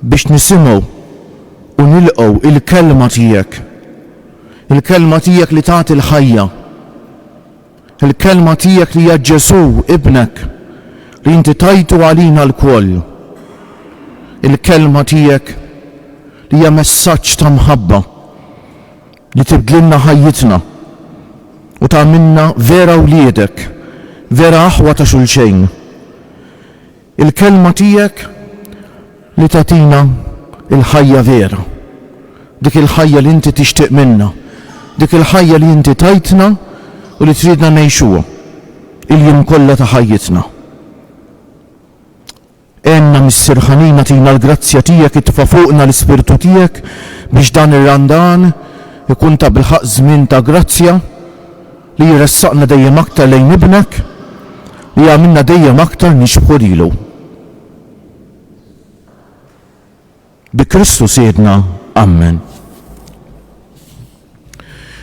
Biex nisimgħu u nilqgħu il-Kelma Tiegħek. Il-Kelma Tiegħek li tagħti l-ħajja. Il-Kelma Tiegħek li hija Ġesù, Ibnek, li Inti tajtu għalina lkoll. Il-Kelma Tiegħek li hija messaġġ ta' mħabba li tibdlilna ħajjitna u tagħmilna vera wliedek, vera aħwa ta' xulxejn. Il-Kelma tiegħek li tagħtina l-ħajja vera, dik il-ħajja li inti tixtieq minna, dik il-ħajja li inti tajtna u li tridna ngħixuha l-jiem kollha ta' ħajjitna. Għenna Missier ħanin agħtina l-grazzja tiegħek itfa' fuqna l-Ispirtu tiegħek biex dan ir-Randan ikun tabilħaqq żmien ta' grazzja, Li jressaqna dejjem aktar lejn Ibnek, li jagħmilna dejjem aktar nixbħu lilu. Bi Kristu Sidna. Ammen.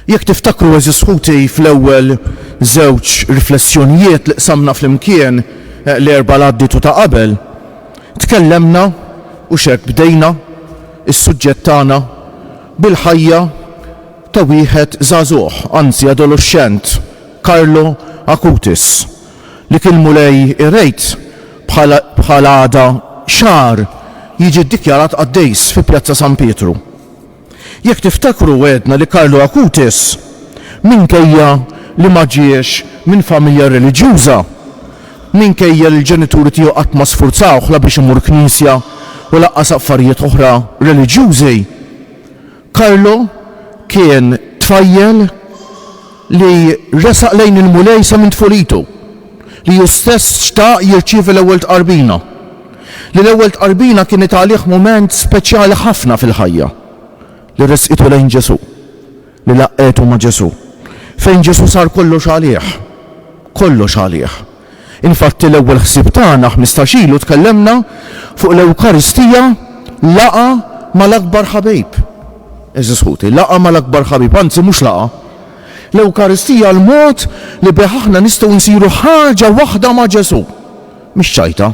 Jekk tiftakru, għeżież ħuti, fl-ewwel żewġ riflessjonijiet li qsamna flimkien eh, l-erba' l-għaddiet u ta' qabel, tkellemna u x'hekk bdejna is-suġġett tagħna bil-ħajja ta' wieħed żagħżugħ, anzi adoluxxent, Carlo Acutis, li kien Mulej irejt bħal għada xahar jiġi ddikjarat qaddejs fi Pjazza San Pietru. Jekk tiftakru għedna li Carlo Acutis, minkejja li ma ġiex minn familja reliġjuża, minkejja li l-ġenituri tiegħu qatt ma sfurzawh la biex imur knisja u lanqas affarijiet oħra reliġjużi, Carlo kien tfajjel li resaq lejn il-Mulej sa minn tfulitu, li hu stess xtaq jirċievi l-ewwel tqarbina, li l-ewwel tqarbina kienet għalih mument speċjali ħafna fil-ħajja, li resqitu lejn Ġesù, li laqqgħetu ma' Ġesù, fejn Ġesù sar kollox għalih, kollox għalih. Infatti l-ewwel ħsieb tagħna ħmistax ilu tkellemna fuq l-Ewkaristija laqgħa mal-akbar ħabib. Għeżież ħuti, laqgħa mal-akbar ħabib, anzi mhux laqgħa. L-Ewkaristija l-mod li bih aħna nistgħu nsiru ħaġa waħda ma' Ġesù, mhix ċajta.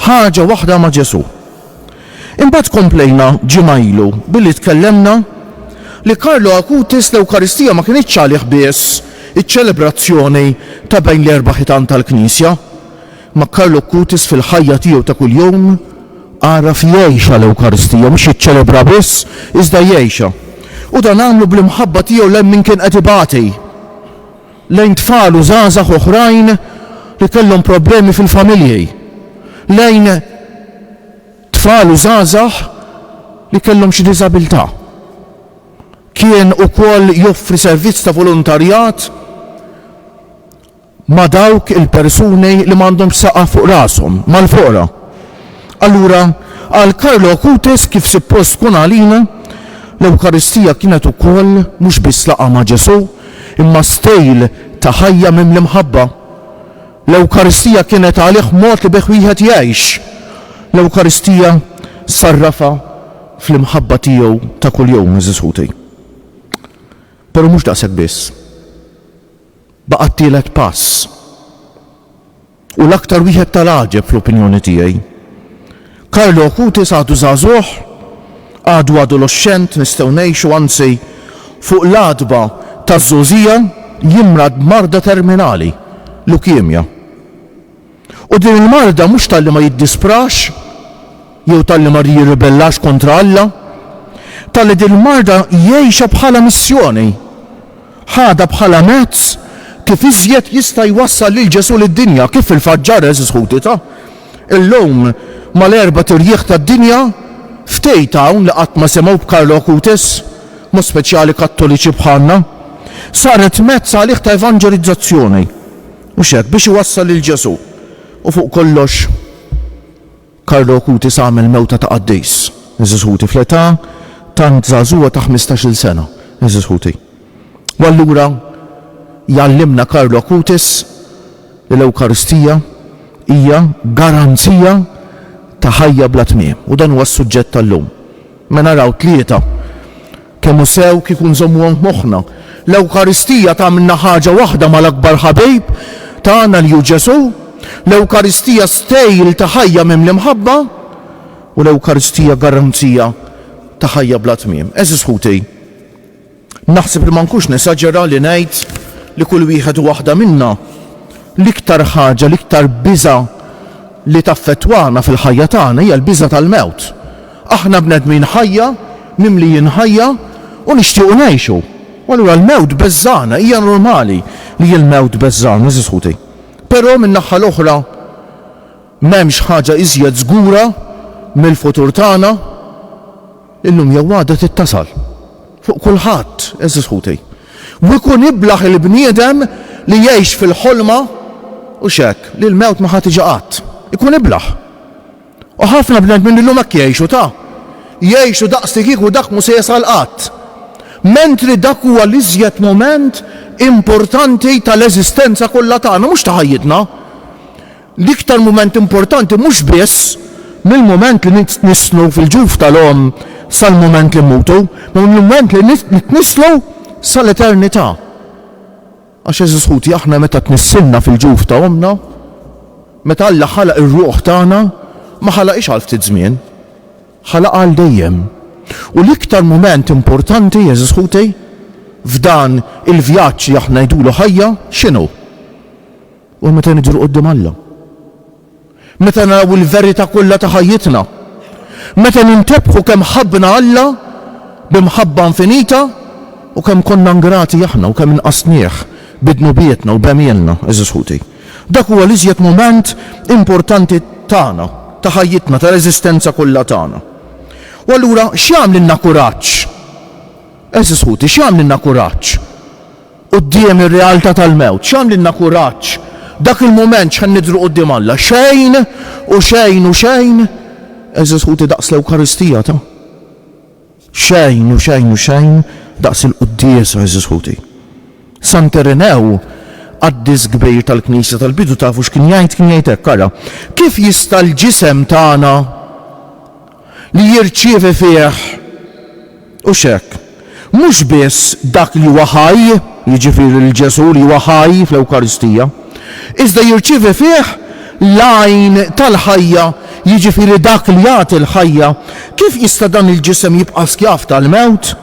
ħaġa waħda ma' Ġesù. Imbagħad komplejna ġimgħa ilu billi tkellemna li Carlo Acutis l-Ewkaristija ma kinitx għalih biss iċ-ċelebrazzjoni ta' bejn l-erba' ħitan tal-Knisja, ma' Carlo Acutis fil-ħajja tiegħu ta' kuljum, għaraf jgħixha l-Ewkaristija, mhux jiċċelebraha biss, iżda jgħixha. U dan għamlu bl-imħabba tiegħu lejn min kien qed ibati. lejn tfal u żgħażagħ oħrajn li kellhom problemi fil-familji, lejn tfal u żgħażagħ li kellhom xi diżabilità. Kien ukoll joffri servizz ta' volontarjat ma' dawk il-persuni li m'għandhomx saqaf fuq rashom, mal-foqra. Allura, għal Carlo Acutis, kif suppost tkun għalina, l-Ewkaristija kienet ukoll mhux biss laqgħa ma' Ġesù, imma stil ta' ħajja mimli mħabba. L-Ewkaristija kienet għalih mod li bih wieħed jgħix. L-Ewkaristija sarrafha fl-imħabba tiegħu ta' kuljum, għeżież ħuti. Però mhux daqshekk biss. Baqgħet tielet pass. U l-aktar wieħed tal-għaġeb fl-opinjoni tiegħi. Carlo Acutis għadu żagħżugħ, għadu adoloxxent nistgħu ngħixu anzi fuq l-għatba taż-żgħożija jimrad b'marda terminali, lukemja. U din il-marda mhux talli ma jiddisprax jew talli ma jirribellax kontra Alla, talli din il-marda jgħixha bħala missjoni. Ħadha bħala mezz kif iżjed jista' jwassal lil Ġesù lid-dinja, kif fil-fatt ġara, għeżież ħuti ta'. Illum, mal-erbat irjieħ tad-dinja, ftehit hawn li qatt ma semgħu b'Karlo Acutis, mod speċjali Kattoliċi bħalna, saret mezz għalih ta' evanġelizzazzjoni, mhux hekk, biex iwassal lil Ġesù, u fuq kollox, Carlo Acutis għamel mewta ta' qaddis, għeżież ħuti, fl-età tant żagħżugħa ta' ħmistax-il sena, għeżież ħuti. U allura jgħallimna Carlo Acutis li l-Ewkaristija hija garanzija ta' ħajja bla tmiem. U dan huwa s-suġġett tal-lum. Mela araw tlieta. Kemm hu sew kieku nżommuhom f'moħħna! L-Ewkaristija tagħmilna ħaġa waħda mal-akbar ħabib tagħna li hu Ġesù. L-Ewkaristija stejl ta' ħajja mimli mħabba, u l-Ewkaristija garanzija ta' ħajja bla tmiem. Għeżież ħuti, naħseb li ma nkunx nesaġera li ngħid li kull wieħed u waħda minna, l-iktar ħaġa, l-iktar biża' li taffettwana fil-ħajja tagħna hija l-biża' tal-mewt. Aħna bnedmin ħajja, mimlijin ħajja u nixtiequ ngħixu. U allura l-mewt beżżagħna, hija normali li l-mewt beżżagħna, għażiż ħuti. Però min-naħa l-oħra m'hemmx ħaġa iżjed żgura mill-futur tagħna. Illum jew għada trid tasal. Fuq kulħadd, għażiż ħuti. U ikun iblah il-bniedem li jgħix fil-ħolma, hux hekk, li l-mewt ma ħa tiġi qatt. Ikun iblah. U ħafna bnedmin illum hekk jgħixu, ta. Jgħixu daqslikieku dak mhu se jasal qatt. Mentri dak huwa l-iżjed mument importanti tal-eżistenza kollha tagħna, mhux ta' ħajjitna. L-iktar mument importanti mhux biss mill-mument li nitnisslu fil-ġuf tal-omm sal-mument li mmutu, ma mill-mument li nitnisslu sal-eternità. Għax għeżież ħuti aħna meta tnissilna fil-ġuf ta' ommna, meta Alla ħalaq ir-ruħ tagħna, ma ħalaqhiex għal ftit żmien, ħalaqha għal dejjem. U l-iktar mument importanti, għeżież ħuti, f'dan il-vjaġġ li aħna ngħidulu ħajja, x'inhu? Huwa meta nidhru quddiem Alla. Meta naraw il-verità kollha ta' ħajjitna, meta nintebħu kemm ħabbna Alla bi mħabba infinita u kemm konna ingrati aħna u kemm nqasnieh bi dnubietna u b'għemilna, għeżież ħuti, dak huwa l-iżjed mument importanti tagħna, ta' ħajjitna, tal-eżistenza kollha tagħna. U allura x'jagħmlilna kuraġġ? Għeżież ħuti, x'jagħmlilna kuraġġ? Quddiem ir-realtà tal-mewt, x'għamlilna kuraġġ? Dak il-mument x'ħa nidhru quddiem Alla? Xejn u xejn u xejn! Għeżież ħuti daqs l-Ewkaristija ta'. Xejn u xejn u xejn daqs il-quddiesa, għeżież ħuti. Sant Irinew, qaddis kbir tal-Knisja tal-bidu tafu x'kien jgħid? Kien jgħid hekk, ara, kif jista' l-ġisem tagħna. li jirċievi fih, hux hekk? mhux biss dak li huwa ħaj, jiġifieri lil Ġesù li huwa ħaj fl-Ewkaristija, iżda jirċievi fih l-Għajn tal-ħajja, jiġifieri dak li jagħti l-ħajja. Kif jista' dan il-ġisem jibqa' skjav tal-mewt?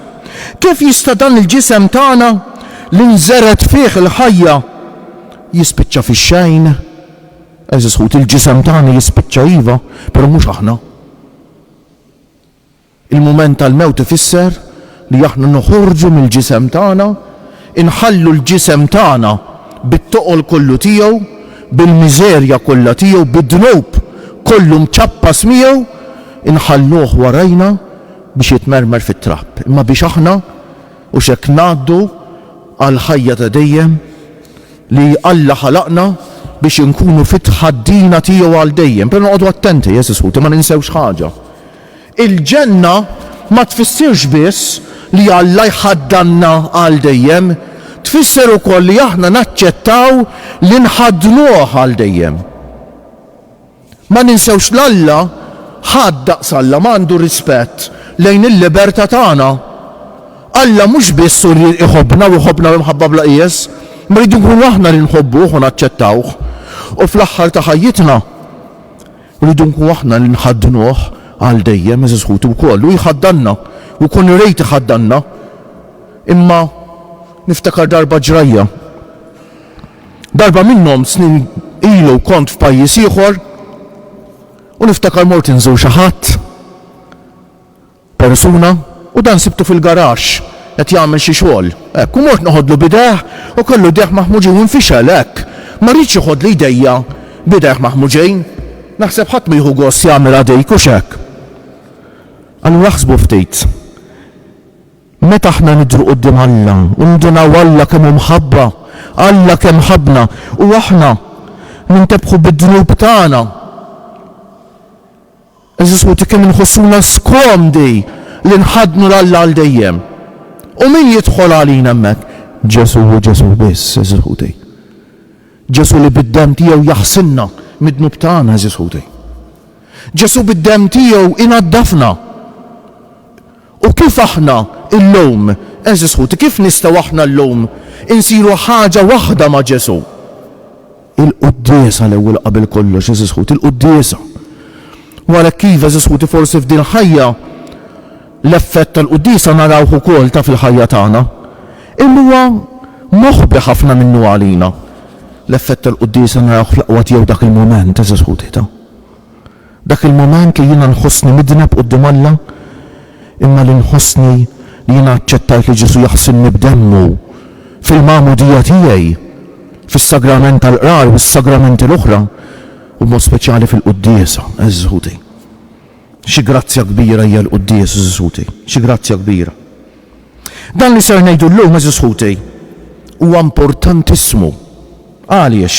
Kif jista' dan il-ġisem tagħna, li nżered fih il-ħajja, jispiċċa fix-xejn? Għeżież ħut, il-ġisem tagħna jispiċċa iva, però mhux aħna. Il-mument tal-mewt ifisser li aħna noħorġu mill-ġisem tagħna, inħallu l-ġisem tagħna bit-toqol kollu tiegħu, bil-miżerja kollha tiegħu, bid-dnub kollu mċappas miegħu, inħalluh warajna biex jitmermer fit-trab. Imma biex aħna hux hekk ngħaddu għall-ħajja ta' dejjem, li Alla ħalaqna biex inkunu fit-tħaddina tiegħu għal dejjem. Però noqogħdu attenti, għeżież ħuti, ma ninsewx ħaġa. Il-ġenna ma tfissirx biss li Alla jħaddanna għal dejjem, tfisser ukoll li aħna naċċettaw li nħaddnuh għal dejjem. Ma ninsewx l'Alla, ħadd daqs Alla ma għandu rispett lejn il-liberta' tagħna. Alla mhux biss hu li jħobbna u jħobbna bi mħabba bla qies, imma rridu nkunu aħna li nħobbuh u naċċettawh. U fl-aħħar ta' ħajjitna rridu nkunu aħna li nħaddnuh għal dejjem, għeżież ħuti wkoll hu jħaddanna u jkun irid iħaddanna. Imma niftakar darba ġrajja. Darba minnhom snin ilu kont f'pajjiż ieħor u niftakar mort inżur xi ħadd, persuna, u dan sibtu fil-garaxx qed jagħmel xi xogħol, hekk, u mort neħodlu b'idejh u kellu jdejh maħmuġin u nfixel, hekk, ma riedx jeħodli jdejja b'idejh maħmuġin. Naħseb ħadd ma jieħu gost jagħmilha dik, hux hekk? Allura aħsbu ftit. Meta aħna nidhru quddiem Alla u nindunaw Alla kemm hu mħabba, Alla kemm ħabbna, u aħna nintebħu bid-dnub tagħna, għeżież ħuti, kemm inħossuna skomdi li nħaddnu 'l Alla għal dejjem! U min jidħol għalina hemmhekk? Ġesù u Ġesù biss, għeżież ħuti. Ġesù li bid-demm tiegħu jaħsilna mid-dnub tagħna, għeżież ħuti. Ġesù bid-demm tiegħu inaddafna. U kif aħna llum, għeżież ħuti, kif nistgħu aħna llum insiru ħaġa waħda ma' Ġesù? Il-quddiesa l-ewwel qabel kollox, għeżież ħuti, il-quddiesa. U għalhekk iva, għeżież ħuti, forsi f'din il-ħajja l-effett tal-quddiesa narawh ukoll, taf, fil-ħajja tagħna. Imma huwa moħbi ħafna minnu għalina. L-effett tal-quddiesa narawh fl-aqwa tiegħu dak il-mument, għeżież ħuti, taf. Dak il-mument li jiena nħossni midneb quddiem Alla, imma li nħossni li jiena aċċettajt li Ġesù jaħsilni b'Demmu fil-Magħmudija tiegħi, fis-Sagrament tal-Qrar u s-Sagramenti l-oħra, u b'mod speċjali fil-Quddiesa. Eżżuti! Xi grazzja kbira hija l-Quddies, eżżuti! Xi grazzja kbira! Dan li ser ngħidu llum, eżżuti, huwa importantissimu. Għaliex?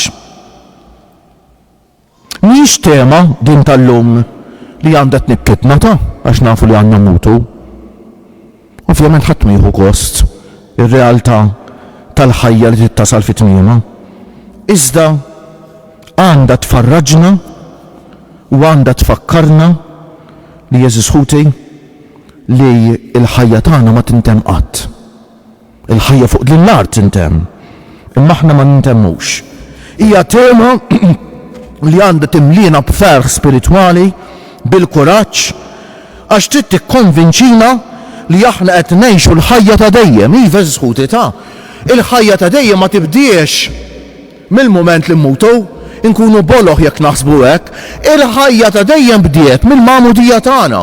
Mhijiex tema, din tal-lum, li għandha tnikkitna, ta, għax nafu li għandna mmutu. Ovvjament ħadd ma jieħu gost ir-realtà tal-ħajja li trid tasal fi tmiemha. Iżda għandha tfarraġna u għandha tfakkarna li, għeżież ħuti, li l-ħajja tagħna ma tintemm qatt. Il-ħajja fuq din l-art tintemm, imma aħna ma nintemmux. Hija tema li għandha timliena b'ferħ spiritwali, bil-kuraġġ, għax trid tikkonvinċina li aħna qed ngħixu l-ħajja ta' dejjem. Iva, għeżież ħuti, ta'. Il-ħajja ta' dejjem ma tibdiex. Mill-mument li mmutu, inkunu boloh jekk naħsbu hekk. Il-ħajja ta' dejjem bdiet mill-Magħmudija tagħna.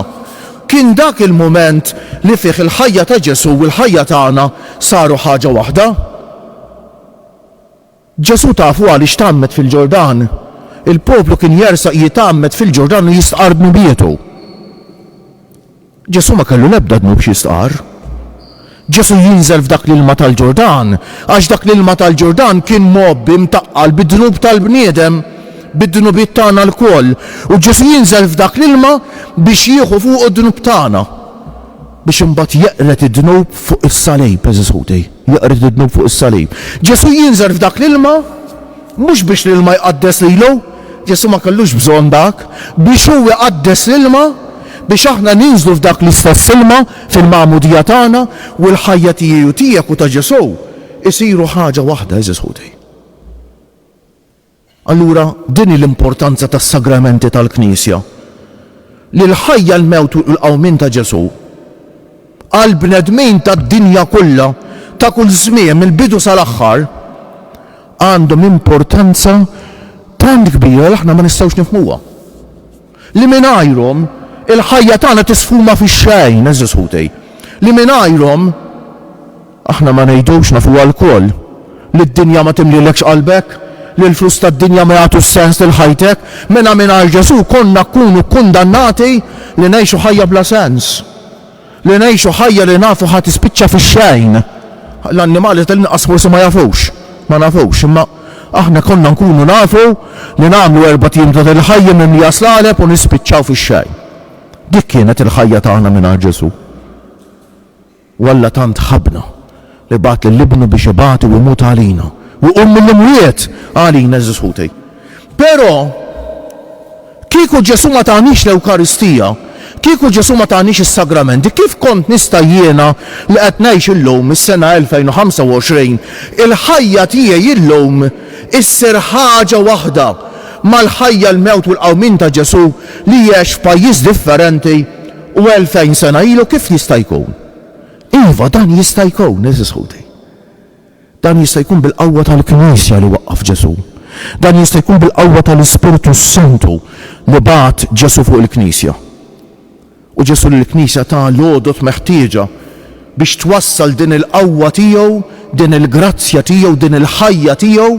Kien dak il-mument li fih il-ħajja ta' Ġesù u l-ħajja tagħna saru ħaġa waħda. Ġesù tafu għaliex tgħammed fil-Ġordan? Il-poplu kien jersaq jitgħammed fil-Ġordan u jistqarr dnubietu. Ġesù ma kellu l-ebda dnub xi jistqarr. Ġesù jinżel f'dak l-ilma tal-Ġurdan għax dak l-ilma tal-Ġurdan kien mgħobbi, mtaqqal, bid-dnub tal-bniedem, bid-dnubiet tagħna lkoll. U Ġesù jinżel f'dak l-ilma biex jieħu fuqu d-dnub tagħna, biex imbagħad jeqred id-dnub fuq is-salib, għeżież ħuti, jeqred id-dnub fuq is-salib. Ġesù jinżel f'dak l-ilma mhux biex l-ilma jqaddes lilu, Ġesù ma kellux bżonn dak biex hu iqaddes l-ilma biex aħna ninżlu f'dak l-istess ilma fil-magħmudija tagħna u l-ħajja tiegħi u tiegħek u ta' Ġesù jsiru ħaġa waħda, għeżież ħuti. Allura din hi l-importanza tas-sagramenti tal-Knisja, li l-ħajja, l-mewt u l-qawmien ta' Ġesù għall-bnedmin tad-dinja kollha, ta' kull żmien, mill-bidu sal-aħħar, għandhom importanza tant kbira li aħna ma nistgħux nifhmuha, li mingħajrhom il-ħajja tagħna tisfuma fix-xejn, għeżież ħuti, li mingħajrhom, Aħna ma ngħidux, nafuha lkoll, li d-dinja ma timlielekx qalbek, li l-flus tad-dinja ma jagħtux sens lil ħajtek, mela mingħajr Ġesù konna kkunu kkundannati li ngħixu ħajja bla sens, li ngħixu ħajja li nafu ħa tispiċċa fix-xejn. L-annimali tal-inqas forsi ma jafux, ma nafux, imma aħna konna nkunu nafu li nagħmlu erbat ijiem ta' din il-ħajja mimlija slaleb u nispiċċaw fix-xejn. Dik kienet il-ħajja tagħna mingħajr Ġesù. U Alla tant ħabbna, li bagħat lil Ibnu biex ibati u jmut għalina, u jqum mill-imwiet għalina, għeżież ħuti. Però, kieku Ġesù ma taniex l-Ewkaristija, kieku Ġesù ma taniex is-Sagramenti, kif kont nista' jiena li qed ngħix illum, is-sena 2025, il-ħajja tiegħi illum issir ħaġa waħda mal-ħajja, l-mewt u l-qawmien ta' Ġesù li għex f'pajjiż differenti, U elfejn sena ilu kif jista' jkun? Iva, dan jista' jkun, għeżież ħuti. Dan jista' jkun bil-qawwa tal-Knisja li waqqaf Ġesù. Dan jista' jkun bil-qawwa tal-Ispirtu s-Santu li bagħat Ġesù fuq il-Knisja. U Ġesù lill-Knisja ta l-għodod meħtieġa biex twassal din il-qawwa tiegħu, din il-grazzja tiegħu, din il-ħajja tiegħu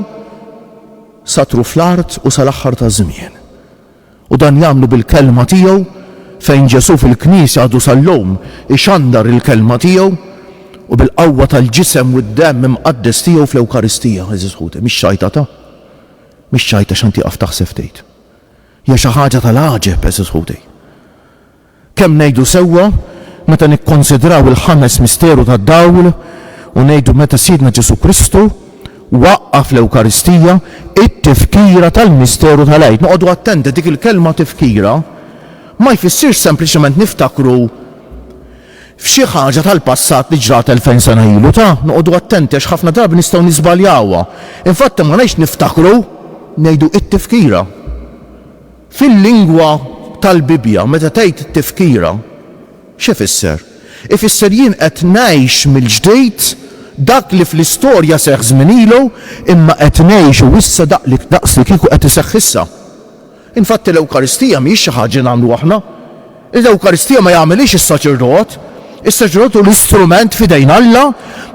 sa truf l-art u sal-aħħar taż-żmien. U dan jagħmlu bil-Kelma tiegħu, fejn Ġesù fil-Knisja għadu sal-lum ixandar il-Kelma tiegħu, u bil-qawwa tal-Ġisem u d-Demm imqaddes tiegħu fl-Ewkaristija, għeżież ħuti. Mhix ċajta ta'? Mhix ċajta x'għan tieqaf taħseb tgħid? Hija xi ħaġa tal-għaġeb, għeżież ħuti. Kemm ngħidu sewwa meta nikkonsidraw il-ħames misteru tad-dawl u ngħidu meta Sidna Ġesù Kristu waqqa' fl-Ewkaristija t-tifkira tal-misteru tal-Għid. Noqogħdu attenti, dik il-kelma tifkira ma jfissirx sempliċement niftakru f'xi ħaġa tal-passat li ġrat elfejn sena ilu. Ta, noqogħdu attenti għax ħafna drabi nistgħu niżbaljawha. Infatti ma ngħidx niftakru, ngħidu t-tifkira. Fil-lingwa tal-Bibbja, meta tgħid tifkira, x'ifisser? Ifisser jien qed ngħix mill-ġdid dak li fl-istorja seħħ żmien ilu, imma qed ngħixu issa daqslikieku qed iseħħ issa. Infatti l-Ewkaristija mhijiex xi ħaġa li nagħmlu aħna. L-Ewkaristija ma jagħmilhiex is-saċerdot. Is-saċerdot hu l-istrument f'idejn Alla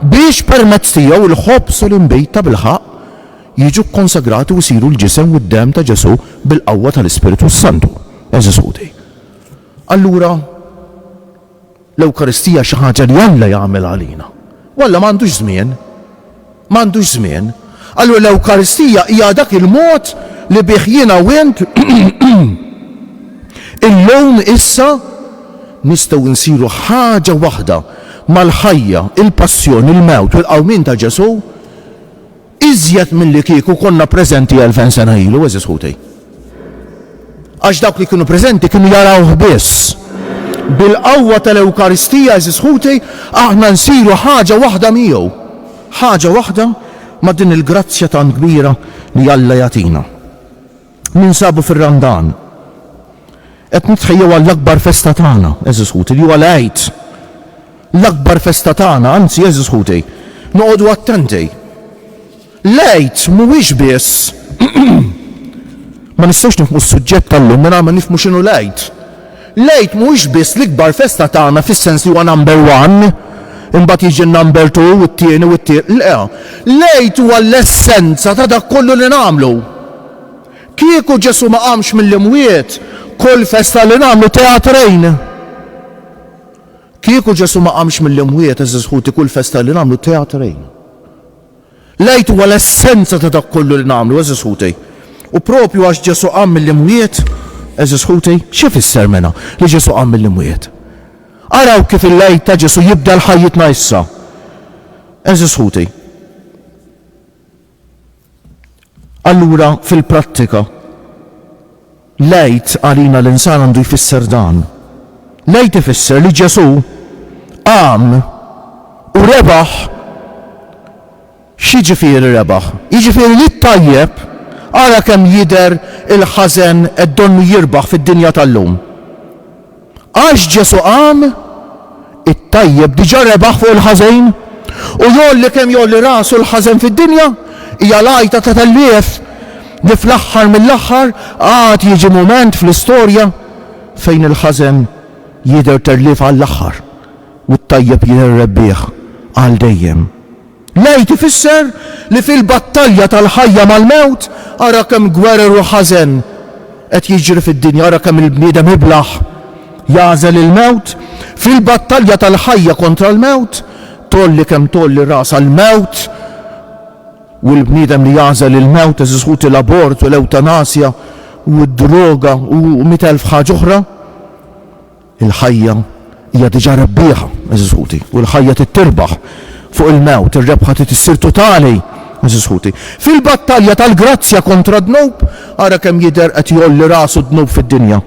biex permezz tiegħu l-ħobż u l-inbid tabilħaqq Jiġu kkonsagrati u jsiru l-Ġisem u d-Demm ta' Ġesù bil-qawwa tal-Ispirtu s-Santu, għeżież ħuti. Allura, l-Ewkaristija hi xi ħaġa li Alla jagħmel għalina. U Alla m'għandux żmien. M'għandux żmien. Allura l-Ewkaristija hija dak il-mod li bih jiena u int illum, issa, nistgħu nsiru ħaġa waħda mal-ħajja, il-passjoni, il-mewt u l-qawmien ta' Ġesù, Iżjed milli kieku konna preżenti elfejn sena ilu, għeżież ħuti. Għax dawk li kienu preżenti kienu jarawh biss. Bil-qawwa tal-Ewkaristija, għeżież ħuti, aħna nsiru ħaġa waħda miegħu. Ħaġa waħda ma' din il-grazzja tant kbira li Alla jagħtina. Ninsabu fir-Randan. Qed nitħejjew għall-akbar festa tagħna, għeżież ħuti, li huwa l-Għid. L-akbar festa tagħna, anzi, għeżież ħuti, noqogħdu attenti. L-Għid mhuwiex biss Ma nistgħux nifhmu s-suġġett tal-lum mingħajr ma nifhmu x'inhu l-Għid. L-Għid mhuwiex biss l-ikbar festa tagħna fis-sens li huwa number one, imbagħad jiġi n-number two u t-tieni u t-tie. Le, l-Għid huwa l-essenza ta' dak kollu li nagħmlu. Kieku Ġesù ma qamx mill-imwiet, kull festa li nagħmlu teatrejn. Kieku Ġesù ma qamx mill-imwiet, għeżież ħuti, kull festa li nagħmlu teatrejn. L-Għid huwa l-essenza ta' dak kollu li nagħmlu, għeżież ħuti. U proprju għax Ġesù qam mill-imwiet, għeżież ħuti, x'ifisser mela li Ġesù qam mill-imwiet? Araw kif il-Għid ta' Ġesù jibdel ħajjitna issa, għeżież ħuti. Allura, fil-prattika, l-Għid għalina l-insara għandu jfisser dan. L-Għid ifisser li Ġesù qam u rebaħ. X'jiġifieri rebaħ? Jiġifieri li t-tajjeb, ara kemm jidher il-ħażen qed donnu jirbaħ fid-dinja tal-lum. Għax Ġesù qam, it-tajjeb diġà rebaħ fuq il-ħażen, u jgħolli kemm jgħolli rasu l-ħażen fid-dinja, hija l-għajta ta' telliegħef li fl-aħħar mill-aħħar għad jiġi mument fl-istorja fejn il-ħażen jidher tellief għall-aħħar u t-tajjeb jidher rebbieħ għal dejjem. L-Għid ifisser li fil-battalja tal-ħajja mal-mewt, ara kemm gwerer u ħażen qed jiġri fid-dinja, ara kemm il-bniedem iblah jagħżel il-mewt. Fil-battalja tal-ħajja kontra l-mewt, tgħolli kemm tgħolli rasha l-mewt u l-bniedem li jagħżel il-mewt, għeżież ħuti l-abort u l-ewtanasja u d-droga u mitt elf ħaġa oħra. Il-ħajja hija diġà rebbieħa, għeżież ħuti, u l-ħajja trid tirbaħ fuq il-mewt, ir-rebħa trid issir totali, għeżież ħuti. Fil-battalja tal-grazzja kontra d-dnub, ara kemm jidher qed jgħolli rasu d-dnub fid-dinja.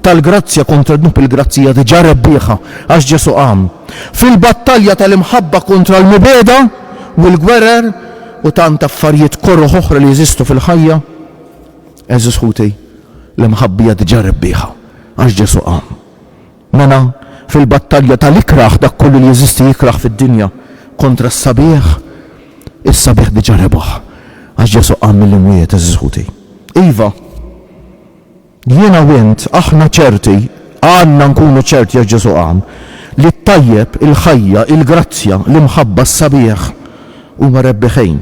Tal-grazzja kontra d-dnub il-grazzja hija diġà rebbieħa għax Ġesù qam. Fil-battalja tal-imħabba kontra l-mibegħda u l-gwerer u tant affarijiet koroh oħra li jeżistu fil-ħajja, Għeżież ħuti, l-imħabbija diġà rebbieħa, għax Ġesù qam. Mela, fil-battalja tal-ikrah dak kollu li jeżisti jikrah fid-dinja kontra s-sabiħ, is-sabiħ diġà rebaħ, għax Ġesù qam mill-imwiet, għeżież ħuti. Iva, jiena u int, aħna ċerti, għandna nkunu ċerti għax Ġesù qam, li t-tajjeb, il-ħajja, il-grazzja, l-imħabba, s-sabiħ huma rebbiħin.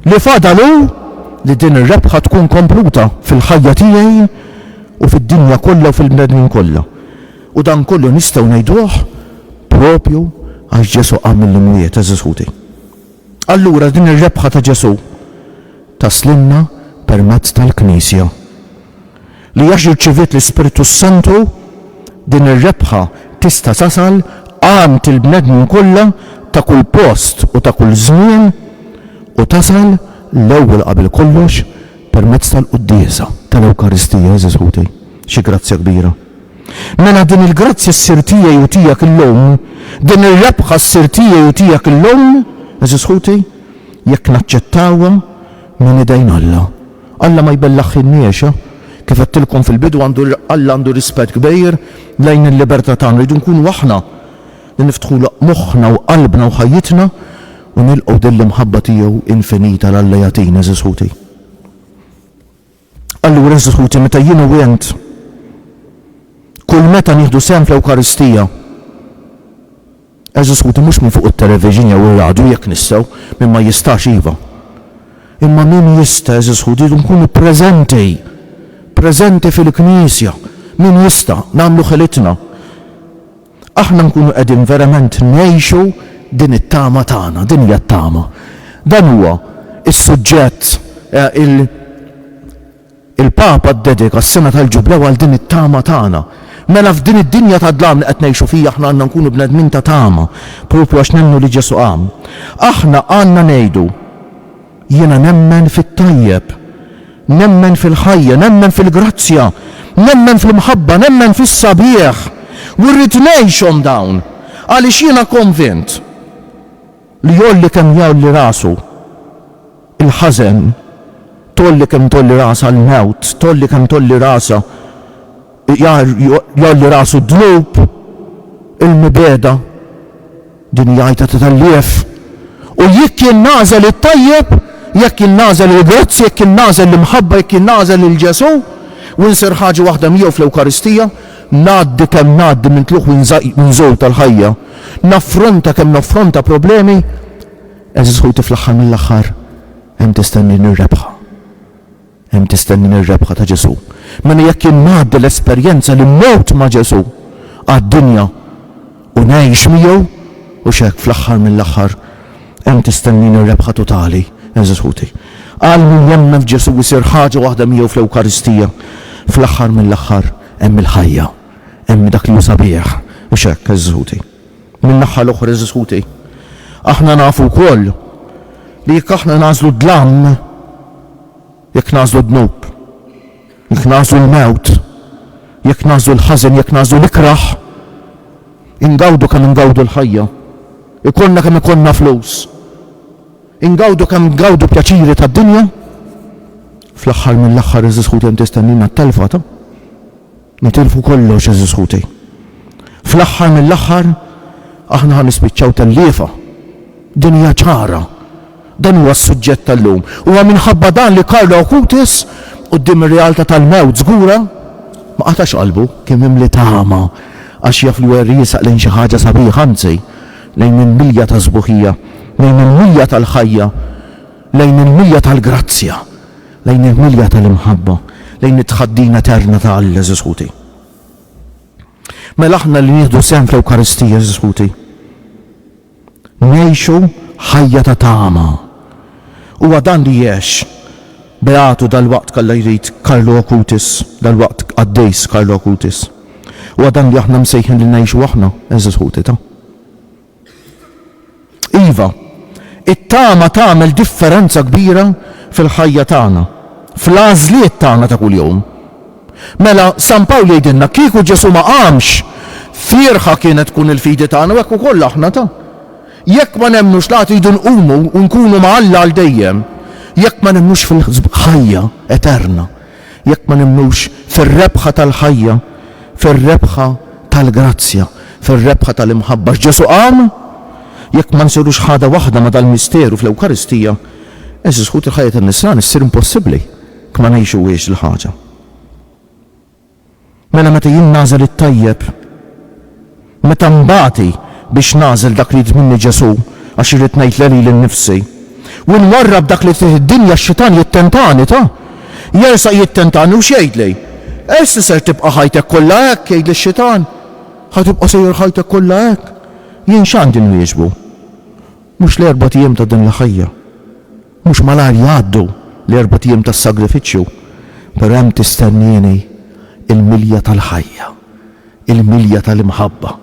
Li fadal hu li din ir-rebħa tkun kompluta fil-ħajja tiegħi u fid-dinja kollha u fil-bnedmin kollha. U dan kollu nistgħu ngħiduh proprju għax Ġesù qam mill-imwiet, għeżież ħuti. Allura din ir-rebħa ta' Ġesù taslilna permezz tal-Knisja. li għax irċiviet l-Ispirtu s-Santu, din ir-rebħa tista' tasal għand il-bnedmin kollha ta' kull post u ta' kull żmien u tasal l-ewwel qabel kollox permezz tal-quddiesa tal-Ewkaristija. Għeżież ħuti, xi grazzja kbira! Mela din il-grazzja ssir tiegħi u tiegħek illum, din ir-rebħa ssir tiegħi u tiegħek illum, għeżież ħuti, jekk naċċettawha Minn idejn Alla. Alla ma jbellaħx in-nies. Kif għedtilkom fil-bidu, Alla għandu rispett kbir lejn il-libertà tagħna. Rridu nkunu aħna li niftħulu moħħna u qalbna u ħajjitna u nilqgħu din l-imħabba tiegħu infinita l-Alla jagħtina, għeżież ħuti. Allura, għeżież ħuti, meta jien u int, kull meta nieħdu sehem fl-Ewkaristija, għeżież ħuti, mhux minn fuq it-television jew ir-radju, jekk nistgħu, min ma jistax iva, imma min jista', għeżież ħuti, rridu nkunu preżenti, preżenti fil-Knisja, min jista', nagħmlu ħilitna. aħna nkunu qegħdin verament ngħixu din it-tama tagħna, din hija t-tama. Dan huwa s-suġġett il il-Papa ddedika s-Sena tal-Ġublew għal din it-tama tagħna. Mela f'din id-dinja ta' dlam li qed ngħixu fija aħna għandna nkunu bnedmin ta' tama, propju għax nemmnu li Ġesù qam. Aħna għandna ngħidu, Jiena nemmen fit-tajjeb. Nemmen fil-ħajja, nemmen fil-grazzja, nemmen fl-imħabba, nemmen fis-sabiħ. U rrid ngħixhom dawn, għaliex jiena konvint li jgħolli kemm jgħolli rasu l-ħażen, tgħolli kemm tgħolli rasha l-mewt, tgħolli kemm tgħolli rasha Iqjar jgħolli rasu d-dnub, il-mibegħda, din hija għajta ta' tellieħ, u jekk jien nagħżel it-tajjeb, jekk jien nagħżel il-grazzi, jekk jien nagħżel l-imħabba, jekk jien nagħżel lil Ġesù, u nsir ħaġa waħda miegħu fl-Ewkaristija, ngħaddi kemm ngħaddi minn tlugħ u nżul tal-ħajja, naffronta kemm naffronta problemi, għeżież ħuti fl-aħħar mill-aħħar hemm tistenni nirrebħha. Hemm tistennini r-rebħa ta' Ġesù. Mela jekk jien ngħaddi l-esperjenza li mmut ma' Ġesù għad-dinja u ngħix miegħu, hux hekk fl-aħħar mill-aħħar hemm tistennini r-rebħa totali, għeżież ħuti. Għal min jemmen f'Ġesù jsir ħaġa waħda miegħu fl-Ewkaristija, fl-aħħar mill-aħħar hemm il-ħajja, hemm dak li hu sabiħ, hux hekk, għeżież ħuti. Min-naħa l-oħra, għeżież ħuti, aħna nafu wkoll li jekk aħna nagħżlu d-dlam, Jekk nagħżlu d-dnub, jekk nagħżlu l-mewt, jekk nagħżlu l-ħażen, jekk nagħżlu l-ikrah, ingawdu kemm ingawdu l-ħajja, ikollna kemm ikollna flus, ingawdu kemm ngawdu pjaċiri tad-dinja, fl-aħħar mill-aħħar għeżież ħuti hemm tistennina t-telfa ta' Nitilfu kollox għeżież ħuti. Fl-aħħar mill-aħħar aħna ħa nispiċċaw telliefa. Din hija ċara. Dan huwa s-suġġett tal-lum. Huwa minħabba dan li Carlo Acutis, quddiem ir-realtà tal-mewt żgura, ma qatax qalbu. Kien mimli tama għax jaf li hu qed jiesaq lejn xi ħaġa sabiħa, anzi, lejn il-milja tas-sbuħija, lejn il-milja tal-ħajja. Lejn il-milja tal-grazzja, lejn il-milja tal-imħabba, lejn it-tħaddin eterna ta' Alla, għeżież ħuti. Mela aħna li nieħdu sehem fl-Ewkaristija, għeżież ħuti, ngħixu ħajja ta' tama. Huwa dan li għex beatu dal-waqt kalla jrid Karlo Okutis, dal-waqt qaddejs Karlo Okutis. Huwa dan li aħna msejħin li ngħixu aħna, għeżież ħuti ta'. Iva, it-tama tagħmel differenza kbira fil-ħajja tagħna, fl-għażliet tagħna ta' kuljum. Mela, San Pawl jgħidilna, kieku Ġesù ma qamx, fierħa kienet tkun il-fidi tagħna u hekk ukoll aħna ta'. Jekk ma nemmnux li għad idu nqumu u nkunu ma' Alla għal dejjem, jekk ma nemmnux fil-ħajja eterna, Jekk ma nemmnux fir-rebħa tal-ħajja, fir-rebħa tal-grazzja, fir-rebħa tal-imħabba x'Ġesù qam, jekk ma nsirux ħada waħda ma' dal-misteru fl-Ewkaristija, għeżież ħuti l-ħajja tan-nisrani ssir impossibbli jekk ma ngħixuhiex dil-ħaġa. Mela meta jien nagħżel it-tajjeb, meta nbati biex nagħżel dak li jrid minni Ġesù għax irrid ngħid le lili nnifsi, u nwarrab dak li fih id-dinja x-xitan jittentani ta. Jersaq jittentani u x'jgħidli? Ersi ser tibqa' ħajtek kollha hekk, jgħidli x-xitan. Ħa tibqa' sejjer ħajtek kollha hekk. Jien x'għandi nwieġbu? Mhux l-erbat ijiem ta' din l-ħajja. Mhux malajr jgħaddu l-erbat jiem tas-sagrifiċċju, però hemm tistennieni l-milja tal-ħajja, il-milja tal-imħabba.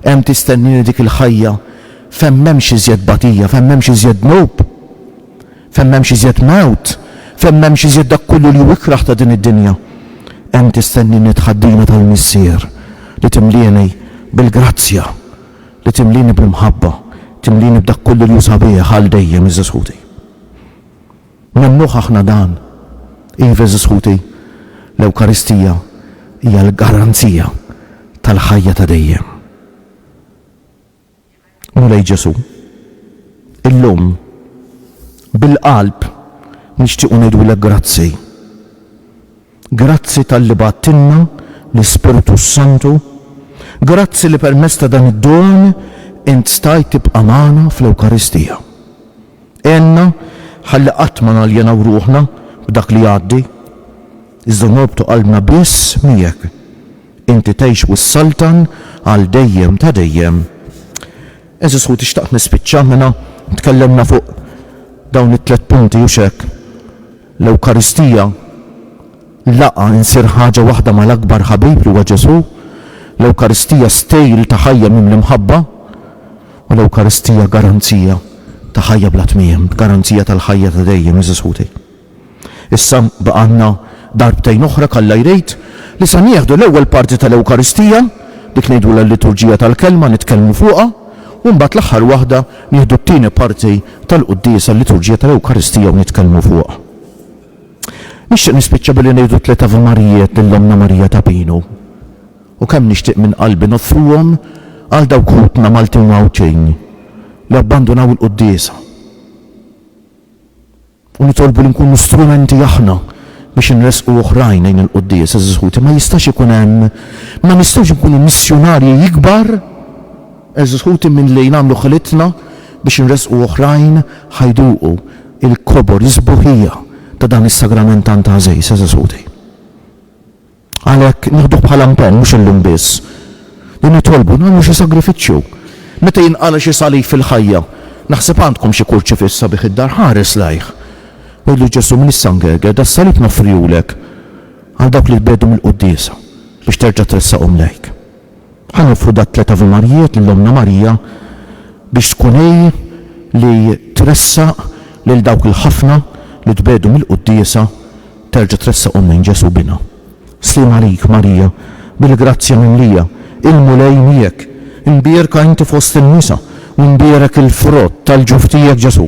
Hemm tistennieni dik il-ħajja fejn m'hemmx iżjed tbatija, fejn m'hemmx iżjed dnub, fejn m'hemmx iżjed mewt, fejn m'hemmx iżjed dak kollu li hu ikrah ta' din id-dinja. Hemm tistennieni t-tħaddina tal-Missier li timlieni bil-grazzja. Li timlieni bl-imħabba, timlieni b'dak kollu li hu sabiħ għal dejjem, għeżież ħuti. Nemmnuh aħna dan? Iva, għeżież ħuti, l-Ewkaristija hija l-garanzija tal-ħajja ta' dejjem. Mulej Ġesù, illum, bil-qalb, nixtiequ ngħidulek grazzi. Grazzi talli bgħattilna l-Ispirtu s-Santu, grazzi li permezz ta' dan id-don int stajt tibqa' magħna fl-Ewkaristija. Għenna ħalli qatt ma naljenaw ruħna b'dak li jgħaddi, iżda norbtu qalbna biss miegħek. Inti tgħix u ssaltan għal dejjem ta' dejjem. Għeżież ħuti xtaqt nispiċċa mela tkellimna fuq dawn it-tliet punti hux hekk? L-Ewkaristija, laqgħa, insir ħaġa waħda mal-akbar ħabib li huwa Ġesù. L-Ewkaristija, stil ta' ħajja mimli mħabba. U l-Ewkaristija, garanzija ta' ħajja bla tmiem, garanzija tal-ħajja ta' dejjem, għeżież ħuti. Issa baqgħalna darbtejn oħra k'Alla jrid, li se nieħdu l-ewwel parti tal-Ewkaristija, dik ngħidulha l-Liturġija tal-Kelma, nitkellmu fuqha, u mbagħad l-aħħar waħda, Nieħdu t-tieni parti tal-quddiesa, l-liturġija tal-Ewkaristija u nitkellmu fuqha. Nixtieq nispiċċa billi ngħidu tliet Ave Marijiet lil Ommna Marija ta' Pinu. U kemm nixtieq minn qalbi noffruhom għal dawk ħutna Maltin u Għawdxin li abbandunaw il-quddiesa. u nitolbu li nkunu strumenti aħna biex inressqu oħrajn lejn il-quddies, għeżież ħuti, ma jistax ikun hemm, ma nistgħux inkunu missjunarji ikbar, għeżież ħuti, milli nagħmlu ħilitna biex inressqu oħrajn ħa jduqu l-kobor, is-sbuħija ta' dan is-sagrament tant għażież, għeżież ħuti. Għalhekk nieħduh bħala mpenn, mhux illum biss, li nitolbu nagħmlu xi sagrifiċċju. Meta jinqala' xi salib fil-ħajja, naħseb għandkom xi kurċifiss sabiħ id-dar, ħares lejh. Għidlu Ġesù, Min issa ngegher, das-salib noffrihulek għal dawk li tbiegħdu mill-quddiesa, biex terġa' tressaqhom lejk. Ħa nofru t-tliet Ave Marijiet lil Ommna Marija biex tkun hi li tressaq lil dawk il-ħafna li tbegħdu mill-Quddiesa terġa' tressaqhom lejn Ġesù Binha. Sliem għalik, Marija, bil-grazzja mimlija, il-Mulej miegħek, imbierka inti fost in-nisa u mbierek il-frott tal-ġuf tiegħek Ġesù.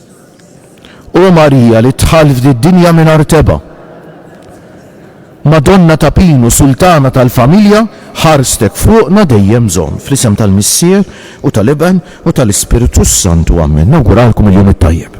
O Marija li dħalt f'did-dinja mingħajr tebgħa, Madonna ta' Pinu, Sultana tal-Familja, ħarstek fuqna dejjem bżonn. Fl-isem tal-Missier, u tal-Iben, u tal-Ispirtu s-Santu. Amen. Nawguralkom il-jum it-tajjeb.